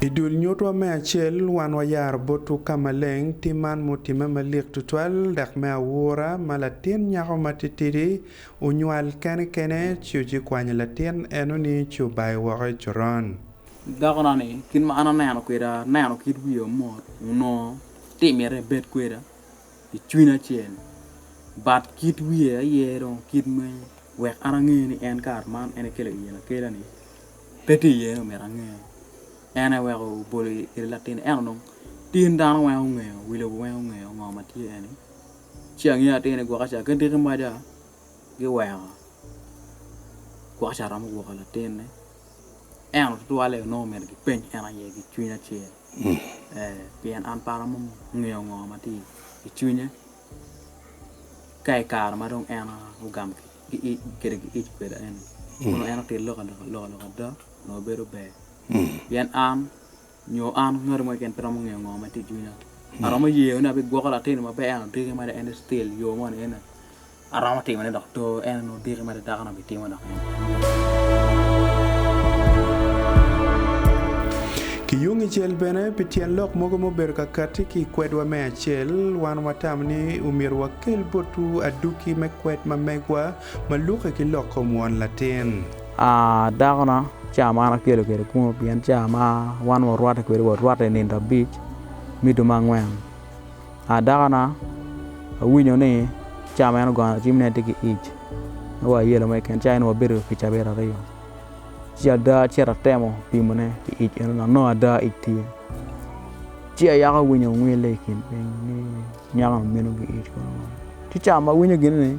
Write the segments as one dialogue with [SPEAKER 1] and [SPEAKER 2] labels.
[SPEAKER 1] I dul nyutwa me acel, wan wayaro botwu ka maleng tim man ma otimme malik tutwal dok me aura ma latin nyako matitidi onywal kene kene ci ocikwanyo latin eno ni ci obayo woko i coron. Dako na ni,
[SPEAKER 2] Kit ma an aneno kweda, aneno kit wiya omot, onongo ti miti ibed kweda i cwiny acel, but kit wiye aye dong kit me wek an ange ni en kare man en ekelo iye akela ni pe ti iye ni omyero ange. En aye weko obolo i kine latinne ento dong tin dano weng ongeyo, wi lobo weng ongeyo ngo ma tye eni. Ci angeyo atir ni gwok ca ki diki maja giweko gwok ca romo gwoko latinne. Ento tutwalle onongo omyero gipeny en aye ki cwiny acel, ee, pien an para mo ongeyo ngo ma tye i cwinye ka i kare ma dong en ogamo kede ki ic kweda eni, onongo en otito lok aloka ada onongo bedo ber, pien an nyo an ngati mo keken pe romo ngeyo ngo ma tye i cwinya aromo yeyo ni abigwoko latin ma pe en odiki ma dok en ni still yo mo ni ene aromo timo ne dok to en ni odiki ma dok dako ni obitimo dok en
[SPEAKER 1] Ki yung icel bene, pi tyen lok mogo ma obedo ka katti ki i kwedwa me acel, wan watamo ni omyero wakel botwu aduki me kwed ma megwa Ma lukke ki lok kom won latin. A Dako
[SPEAKER 2] na, ca man akelo kwede kuno, pien ca ma wan warwatte kwede warwatte i nino abic me dumo angwen. A Dako na, awinyo ni ca ma en ogono cim ni en tye ki ic, me wa ayelo mo keken, ca eno wabedo pi cabit aryo. Ci ada acito atemo pimone ki ic eno dok nongo ada ic tye. Ci ayaka awinyo ongwille i kin piny ni nyako-ni meno ki ic kono. Ci ca ma awinyo gini ni.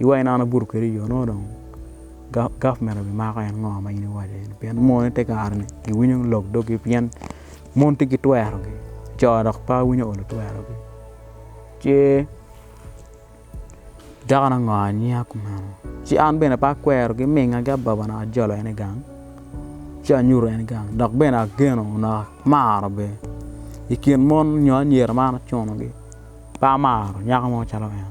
[SPEAKER 2] Iwa in an abuto kwedi iyo nongo dong government obi mako en ngo ma in iwaco eni pien mon ite kare ni gi winyo lok dog gi pien mon tye ki twero gi co dok pe winyo olo twero gi ce dako ni ango anyiya kumeno ci an bene pe akwero gi minga ki ababa naka ajolo en i gang ci anyuto en gang dok bene ageno naka amaro bene i kin mon nyo anyira ma an acuno gi pe amaro nyako mo calo en.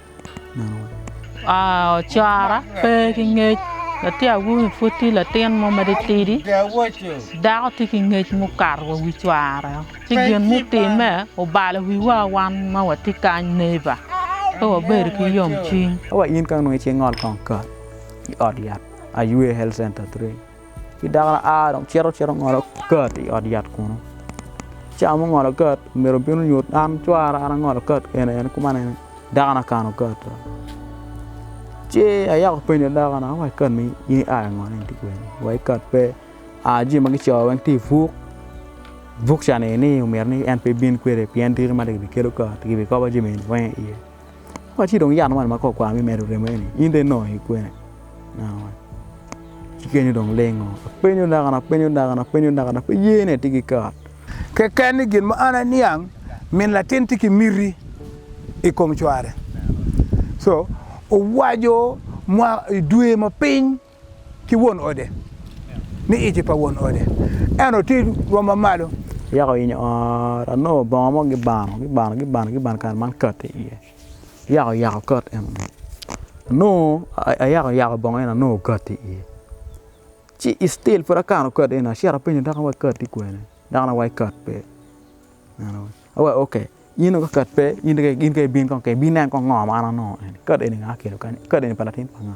[SPEAKER 3] Ocora pe ki ngec latin awobi pud tye latin mo ma titidi dako tye ki ngec ma okato wa wi cware ci gin mutimme obalo wiwa wan ma watye kany neighbor pe wabedo ki yomcwiny.
[SPEAKER 2] Ci dakona a dong cito cito ngolo kat i ot yat kunu. Ca ma ongolo kat omyero obin onyut an cwara an angolo kat kene en kuman en dakona kano kat dong. Ci ayako apenyo dakona ni wa ikat ni in ia i ngo ni in ti kwene wa ikat pe aa jami ma kicoyo weny ti buk, buk ca ni ni omyero ni en pe ibin kwede pien diki mada kibikelo kat kibikobo jami weny iye. Watye dong yat man ma kor kwar me medo remo eni in dong inongo i kwene? Ci kenyo dong olingo apenyo dakana apenyo dakana apenyo dakana pe ye ne tye ki kare keken ni
[SPEAKER 4] gin ma an aniang min latin tye ki miti i kom cware so owaco mwa i dwe ma piny ki won ode, ni ic pa won ode eno ti rwom ma malo. Yaka
[SPEAKER 2] oyinyo ot, anongo bongo mo gibano, gibano, gibano, gibano kare man kat i iye. Yaka oyako kat eno ni, anongo ayaka oyako bongo eno anongo kat i iye. Ci i still pud akano kat eno, acito apenyo doki wa kat ti kwene, doki ne wa i kat pe, eno ni awa ok, in dong ka kat pe in dong ka ibin kong ka ibin nen kong ngo ma an anongo eni, kat eni nga kelo kany-ni, kat eni pa latin pa nga?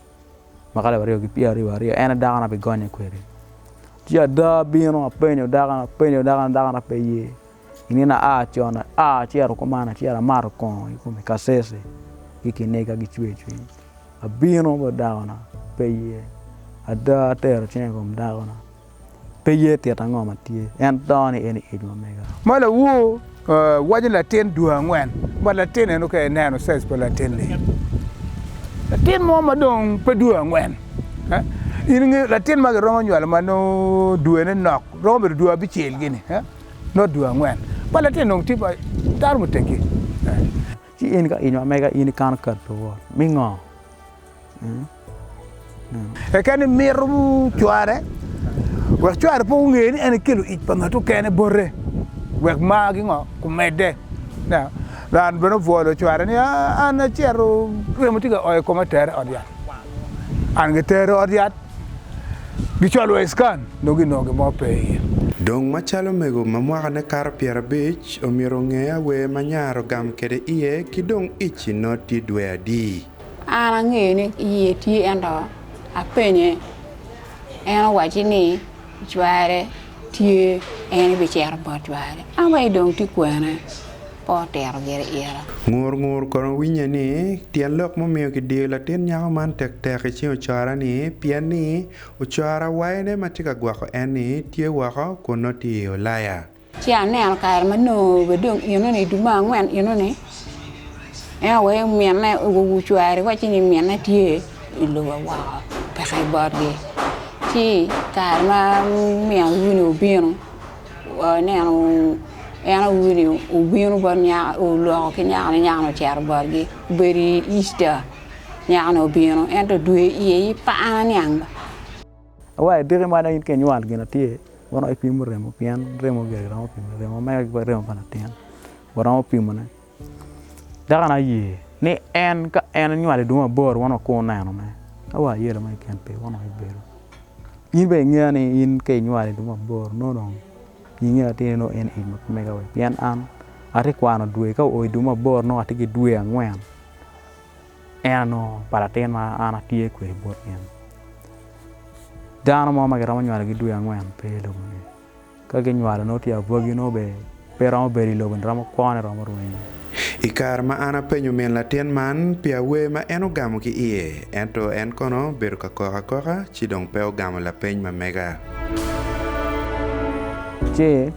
[SPEAKER 2] ma ka labaryo ki pyera aryo wa aryo en aye dako na bi gonye kwede ci ada abino apenyo dako ni apenyo dako ni dako na pe ye i nino aa con aa acito kuman acito amato kongo i kom kacece ki kiniga ki cwer cwiny abino bot dako na pe ye ada atero cinga i kom dako na. Pe ye tit ango ma tye, en dongo ni en iec ma mega. Ma lawu
[SPEAKER 4] waco latin dwe angwen bot latin eno ka ineno size pa latin ni latin mo ma dong pe dwe angwen in ingeyo latin ma giromo nywalo ma nongo dwe ne nok romo bedo dwe abicel gini not dwe angwen bot latin dong tye ma dano muteggi ci
[SPEAKER 2] in ka iec ma mega in ikano kati luwot me ngo?
[SPEAKER 4] Keken i mito cware wek cware pe onge ni en ekelo ic pa ngat okene bote wek mar ki ngo kumedde. Ran bene obwolo cware ni an acito remo tye ka o i koma tere ot yat. An gitere ot yat gicwalo wa i scan dong ginongo gin mo pe iye. Dong macalo
[SPEAKER 1] omego ma mwakane kato pyerabic omyero onge awer ma nyare ogam kwede iye ki dong ic-ci noti dwe adi? An angeyo
[SPEAKER 5] ni iye tye ento apenye en owaci ni cware tye en bicito bot cware awaci dong tye kwene pe otito gire ira. Ngur ngur kono
[SPEAKER 1] awinnye ni tyen lok ma omiyo ki diyo latin nyako man tek tek i cing ocora ni pien ni ocora wayone ma tye ka gwoko en ni tye woko kun nongo tye i ulaya. Ci aneno
[SPEAKER 5] kare ma nongo bene dong eno-ni i dul me angwen eno-ni, en aye waco ni minne ocware wacci ni minne tye i lobo woko peke i botgi. Ci kare ma min auru-ni obino aneno en auru-ni obino bot nyako oloko ki nyakoni nyakoni ocito botgi obedo i Easter nyakoni obino ento dwe iye aye par niang ba.
[SPEAKER 2] Awayi diki mada in ka inywal gin atir waromo pimo remo pien remo omege giromo pimone remo omege giromo pimone remo pa latin waromo pimone dako na aye ni en ka en onywalo idwong aboro wano wakur oneno ne awa ayelo ma keken pe wano ibedo in bene ingeya ni in ka inywal idwong aboro nongo dong inge atir ni en eni pe mega pien an atye kwano dwe ka oyo idwong aboro nongo atye ki dwe angwen. En anongo pa latin ma an atye kwede bot in. Dano mo ma giromo nywalogi dwe angwen pe i lobo-ni. Ka ginywalo nongo tye abwagi nongo be pe romo bedo i lobo-ni romo kwone romo rwenyo. I kare ma
[SPEAKER 1] an apenyo min latin man pi awer ma en ogamo ki iye, ento en kono bedo ka kok akoka ci dong pe ogamo lapeny ma mega.
[SPEAKER 2] Ci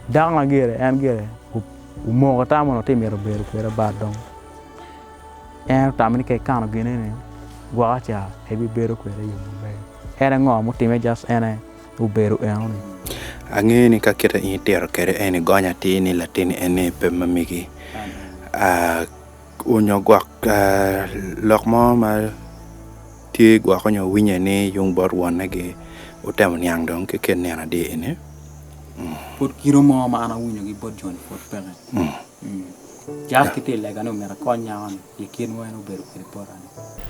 [SPEAKER 2] dako ma gire, en gire. Omoko ata mono tye mito bedo kweda bat dong en otamo ni ka ikano gine ni gwoko ca ebibedo kwede i yo maber en aye ngo mutime just en aye obedo eno ni. Angeyo ni ka
[SPEAKER 1] kite in itito kwede en ni gony atir ni latin en ni pe ma megi onyo gwok lok mo ma. Tye gwoko nyo winye ni yung bot wonne gi otemo niang dong ki ken nino adi eni. Mm. Pud
[SPEAKER 2] kino mo ma an awinyo gi bot joni pud peke. Mm. Mm. Jack ki tye lega ni omito akony nyako ni pi kit mo en obedo kwede bota ni.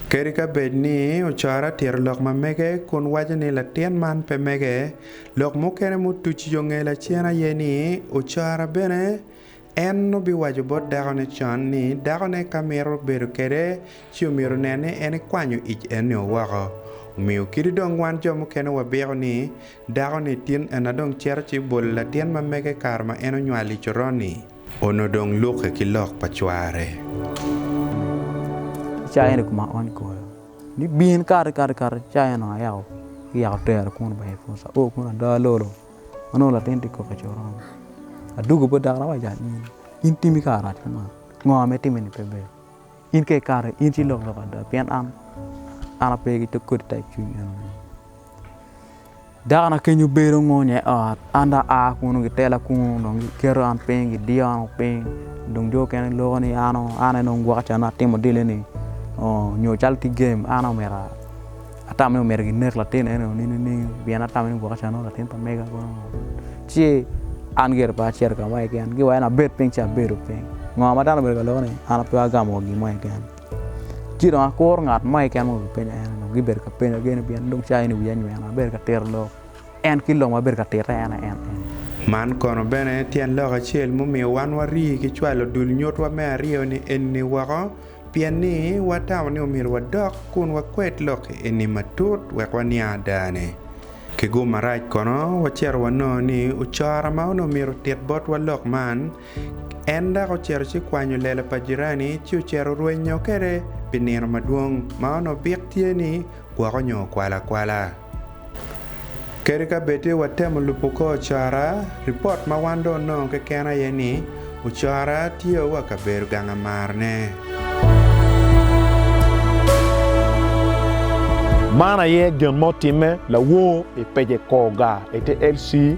[SPEAKER 2] Kadi ka bed
[SPEAKER 1] ni ocara tito lok ma mege kun waco ni latin man pe mege, lok mukene mutucu yo nge lacen aye ni ocara bene En obiwaco bot dakone con ni dakone ka mito bedo kwede ci omyero onen ni en ekwanyo ic eni-o woko. Omiyo kadi dong wan jo mukene wabiko ni dakoni tin ena dong cito ci bolo latin ma mege kare ma en onywalo i coron-ni, onongo dong lukke ki lok pa cware.
[SPEAKER 2] I cawa eni koma aony koyo ni bin kati kati kati cawa eno ayako yako tera kunu bene pwod aoo kunu adaa lolo. ma nongo latin tye kok i coron, adwogo bot dako awaco ni in timi kara rac kama, ngo ma itimmi-ni pe ber, in ka ikato in ci ilok lok ada pien an ape ki kodi type cwiny enoni. Dakona keny obedo ongonya i ot an dong aa kunu gitela kunu dong giketo an piny gidiyo an piny dong jo mukene giloko ni an aye dong gwok can atimo dilo-ni nyo calo tye gem an aye omyero Atamo ni omyero ginek latin eno nino nining? Pien atamo ni gwok acan nongo latin pa mega kono. Ci an gire pe acito ka mo keken, giwaya ni abed piny ci abedo piny. Ngo ma dano obedo ka loko ni an pe agamo gin mo keken? Ci dong akuro ngat mo keken ma onongo gipenyo en eno, gibedo ka penya gene pien dong cawa eni wiya nyweno, abedo ka tito lok. En ki lok ma abedo ka tite en aye en. Man kono
[SPEAKER 1] bene tyen lok acel mumiyo wan wari ki cwalo dul nyutwa me aryo-ni eni woko. Pien ni watamo ni omyero wadok kun wakwed lok eni matut wek waniang adane. Ki gum marac kono, wacito wanongo ni ocoro ma onongo myero otit botwa lok man, en dok ocito ci kwanyo lela pa jirani ci ocito rwenyo kwede pi nino madwong ma onongo bik tye ni gwoko nyo kwalo akwala. Kadi ka bed tye watemo lubo kor ocora, ripot ma wan dong onongo keken aye ni ocora tye wa ka bedo gang amarne.
[SPEAKER 6] Man aye gin ma otimme lawor i pece Koga i te LC.